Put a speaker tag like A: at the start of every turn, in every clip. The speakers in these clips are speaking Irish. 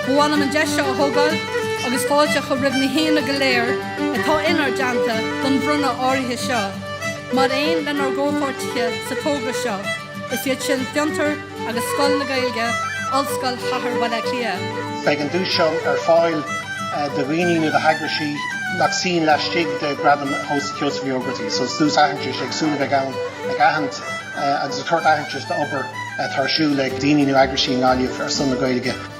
A: Ba mhaith liom an deis seo a thógáil agus fáilte a chur roimh na haíonna go léir atá inár dteannta don bhronnadh áirithe seo. Mar aon lenár gcomhpháirtithe sa togra seo, is iad sin Fiontar, agus Scoil na Gaeilge, Ollscoil Chathair Bhaile Átha Cliath. Beidh an duais seo ar fáil do dhaoine nó d'eagraisí nach suíonn laistigh de Ghradam Sheosaimh Uí Ógartaigh. So duais aitheantais éagsúil atá ann ag aithint agus ag tabhairt aitheantais d'obair atá ar siúl ag daoine nó eagraisí i nGaillimh ar son na Gaeilge.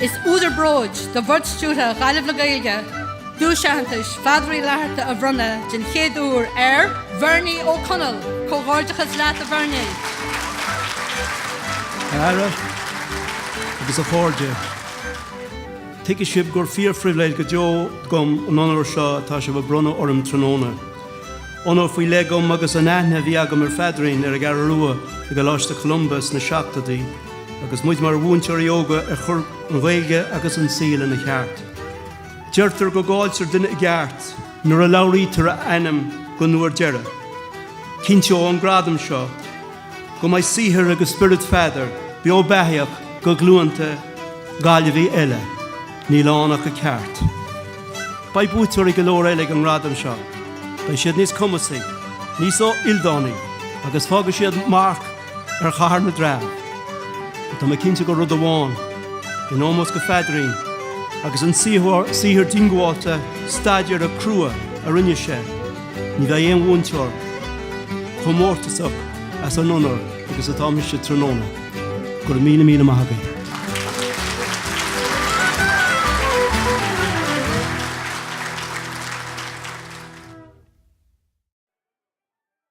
A: Is údar bróid do Bhord Stiúrtha Ghaillimh le Gaeilge Duais Aitheantais Pheadair Uí Fhlatharta a bhronnadh den chéad uair ar Bhernie Ó Conaill. Comhghairdeachas leat a Bhernie. A Aire agus a chairde, tuigfidh sibh gur fíor-phribhléid go deo dom an onóir seo atá sibh ag bronnadh orm tráthnóna. Onóir faoi leith agam agus an aithne a bhí agam ar Pheadairín ar an gCeathrú Rua i gColáiste Cholumba sna seachtóidí, agus muid mar mhúinteoirí óga ag cur an Ghaeilge agus an saol ina cheart. Deirtear go gcailltear duine i gceart nuair a labhraítear a ainm don uair dheireadh. Cinnteoidh an gradam seo go mbeidh saothar agus spiorad Pheadair beo beathaíoch do ghlúnta Gaillimhí eile. Níl ann ach a cheart. Beidh buaiteoirí go leor eile ag an ngradam seo. Beidh siad níos cumasaí, níos ildánaí agus fágfaidh siad marc ar Chathair na dTreabh. Tá mé cinnte de rud amháin, in ómós do Pheadairín agus an saothar diongbháilte staidéartha crua a rinne sé, ní bheidh aon bhuaiteoir chomh mórtasach as an onóir agus atá mise tráthnóna. Go raibh míle míle maith agaibh.